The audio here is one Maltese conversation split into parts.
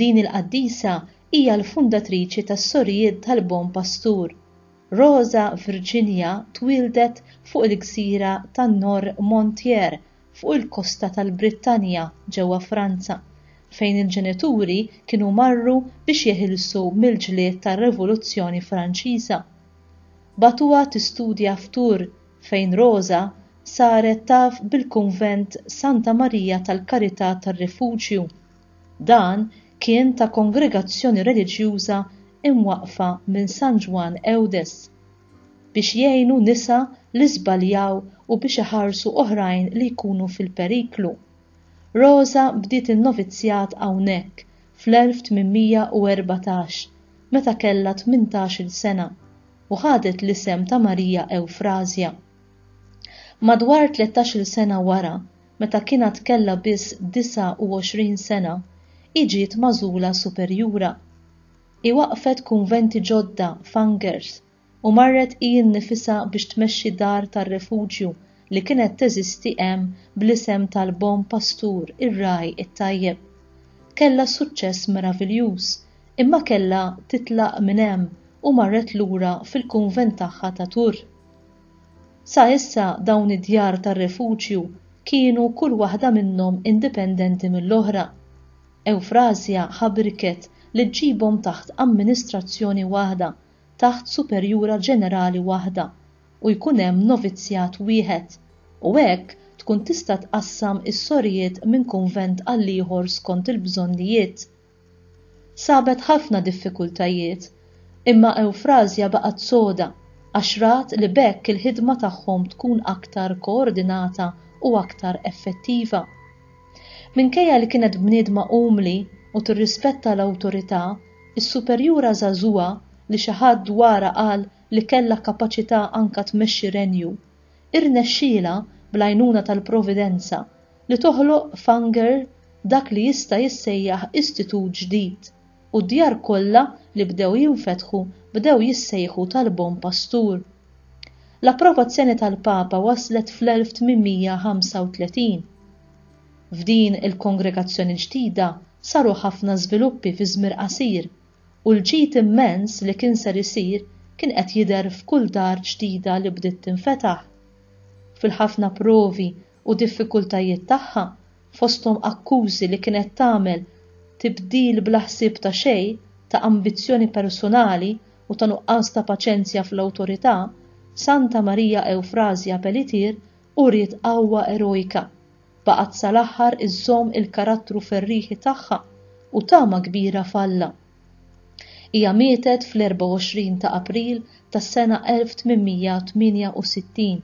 Din il-qaddisa hija l-fundatriċi tas-Sorijiet tal-Bon Pastur. Rosa Virginia twieldet fuq il-gżira ta' Noirmoutier fuq il-kosta tal-Brittanja ġewwa Franza, fejn il-ġenituri kienu marru biex jeħilsu mill-ġlied tar-Revoluzzjoni Franċiża. Bagħtuha tistudja f'Tours, fejn Roża saret taf bil-Kunvent Santa Marija tal-Karità tar-Rifuġju. Dan kien ta' kongregazzjoni reliġjuża imwaqqfa minn San Ġwann Eudes biex jgħinu nisa li żbaljaw u biex iħarsu oħrajn li jkunu fil-periklu. Roża bdiet in-novizzjat hawnhekk fl-1814 meta kellha tmintax-il sena. u ħadet l-isem ta' Marija Ewfrażja. Madwar tlettax-il sena wara, meta kien għad kellha biss 29 sena, hi ġiet magħżula superjura. Hi waqqfet kunventi ġodda f'Angers u marret hi nnifisha biex tmexxi dar tar-refuġju li kienet teżisti hemm bl-isem tal-Bon Pastur, ir-Ragħaj it-Tajjeb. Kellha suċċess meraviljuż Imma kellha titlaq minn hemm u marret lura fil-kunvent tagħha ta' Tours. Sa issa dawn id-djar tar-refuġju kienu kull waħda minnhom indipendenti mill-oħra. Ewfrasja ħabriket li ġġibhom taħt amministrazzjoni waħda, taħt superjura ġenerali waħda, u jkun hemm novizzjat wieħed, u hekk tkun tista' tqassam is-sorijiet minn kunvent għall-ieħor skont il-bżonnijiet. Sabet ħafna diffikultajiet, imma Ewfrażja baqgħet soda għax rat li b'hekk il-ħidma tagħhom tkun aktar koordinata u aktar effettiva. Minkejja li kienet bniedma umli u tirrispetta l-awtorità, is-superjura żagħżugħa li xi ħadd dwarha qal li kellha kapaċità anke tmexxi renju, irnexxielha, bl-għajnuna tal-Providenza, li toħloq f'Angers dak li jista' jissejjaħ istitut ġdid u d-djar kollha li bdew jinfetħu bdew jissejħu tal-Bon Pastur. L-approvazzjoni tal-Papa waslet fl-1835. F'din il-kongregazzjoni ġdida saru ħafna żviluppi fi żmir qasir u l-ġid immens li kien ser isir kien qed jidher f'kull dar ġdida li bdiet tinfetaħ. Fil-ħafna provi u diffikultajiet tagħha, fosthom akkużi li kienet tagħmel tibdil bla ħsieb ta' xejn, ta' ambizzjoni persunali u ta' nuqqas ta' paċenzja fl-awtorità, Santa Marija Ewfrażja Pelletier uriet qawwa erojka, baqgħet sal-aħħar iżżomm il-karattru ferrieħi tagħha u tama kbira f'Alla. Hija mietet fl-24 ta' April tas-sena 1868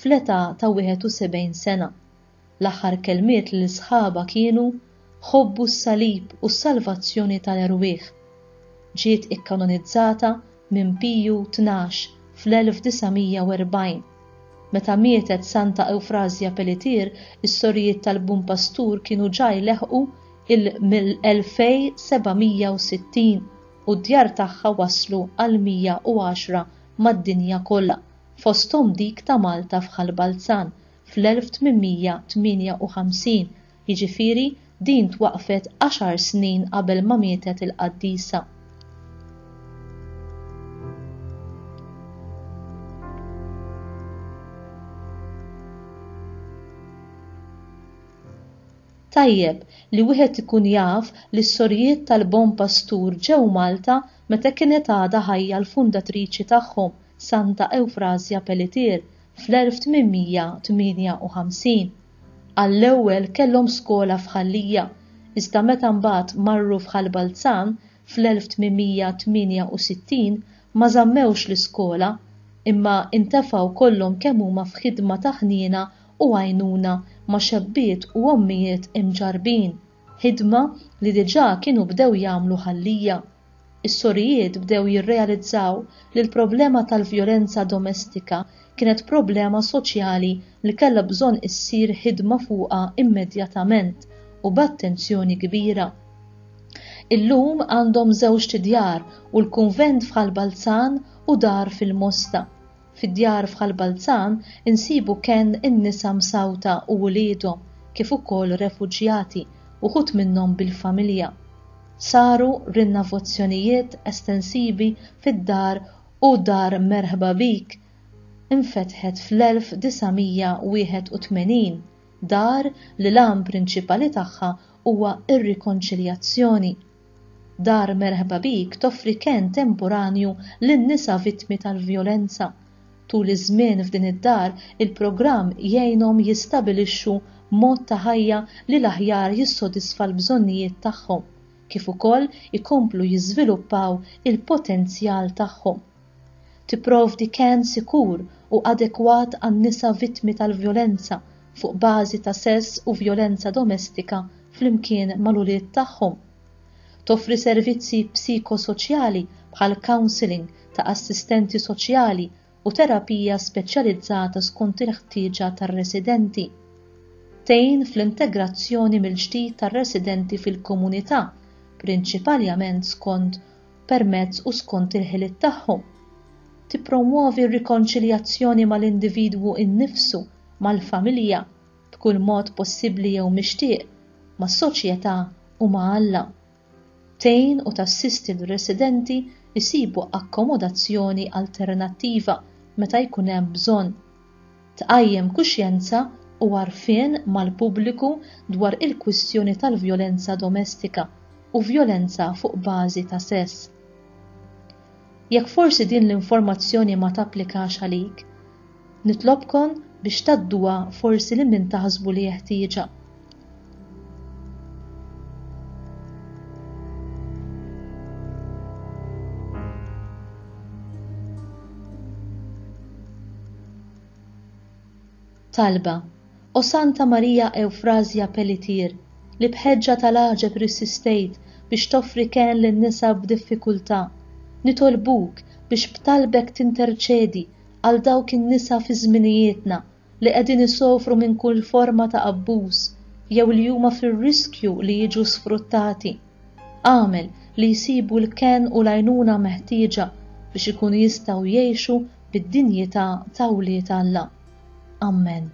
fl-età ta' 71 sena. L-aħħar kelmiet lil sħabha kienu, Ħobbu s-salib u s-salvazzjoni tal-erwieħ. Ġiet ikkanonizzata minn Piju Tnax fl-1940. Meta mietet Santa Ewfrażja Pelletier, is-Sorijiet tal-Bun Pastur kienu ġa jleħħqu l-2760 u d-djar tagħha waslu għall-110 mad-dinja kollha. fosthom dik ta' Malta f'Ħal Balzan fl-1858, jiġifieri din twaqqfet għaxar snin qabel ma mietet il-qaddisa. Tajjeb li wieħed ikun jaf li s-sorijiet tal-Bon Pastur ġew Malta meta kienet għadha ħajja l-fundatriċi tagħhom, Santa Ewfrasja Pelletier fl-1858. Għall-ewwel kellhom skola f'Ħal Lija, iżda meta mbagħad marru f'Ħal Balzan fl-1868 ma żammewx l-iskola imma intefgħu kollhom kemm huma f'ħidma ta' ħniena u għajnuna ma' xebbiet u ommijiet imġarrbin, ħidma li diġà kienu bdew jagħmlu Ħal Lija. Is-sorijiet bdew jirrealizzaw li l-problema tal-vjolenza domestika kienet problema soċjali li kellha bżonn issir ħidma fuqha immedjatament u b'attenzjoni kbira. Illum għandhom żewġt djar u l-kunvent f'Ħal Balzan u dar fil-Mosta. Fid-djar f'Ħal Balzan insibu kenn in-nisa msawta u uliedhom kif ukoll refuġjati, uħud minnhom bil-familja. Saru rinnavozzjonijiet estensivi fid-dar u Dar Merħba Bik infetħet fl-1981, dar li l-għan prinċipali tagħha huwa r-rikonċiljazzjoni. Dar Merħba Bik toffri kenn temporanju lin-nisa vittmi tal-vjolenza. Tul iż-żmien f'din id-dar, il-programm jgħinhom jistabilixxu mod ta' ħajja li l-aħjar jissodisfa l-bżonnijiet tagħhom, kif ukoll ikomplu jiżviluppaw il-potenzjal tagħhom. tipprovdi kenn sikur u adekwat għan-nisa vittmi tal-vjolenza fuq bażi ta' sess u vjolenza domestika flimkien mal-ulied tagħhom, toffri servizzi psikosoċjali bħal counselling ta' assistenti soċjali u terapija speċjalizzata skont il-ħtieġa tar-residenti, tgħin fl-integrazzjoni mill-ġdid tar-residenti fil-komunità, prinċipaljament skont permezz u skont il-ħiliet tagħhom, tippromwovi r-rikonċiljazzjoni mal-individwu innifsu, mal-familja, b'kull mod possibbli jew mixtieq, mas-soċjetà u ma' Alla. Tgħin u tassisti lir-residenti jsibu akkomodazzjoni alternattiva meta jkun hemm bżonn. tqajjem kuxjenza u għarfien mal-pubbliku dwar il-kwistjoni tal-vjolenza domestika u vjolenza fuq bażi ta' sess. Jekk forsi din l-informazzjoni ma tapplikax għalik, nitlobkom biex tgħadduha forsi lil min taħsbu li jeħtieġha. Talba, o Santa Marija Eufrazja Pellitier, li bħeġġa tal-għaġeb rissistejt biex toffri ken lin nisa b'diffikultà, nitolbuk biex b'talbek tinterċedi għal dawk in-nisa fi żminijietna li qegħdin isofru minn kull forma ta' abbuż jew li huma fir-riskju li jiġu sfruttati. Agħmel li jsibu l-kenn u l-għajnuna meħtieġa biex ikunu jistgħu jgħixu bid-dinjità ta' wlied Alla. Ammen.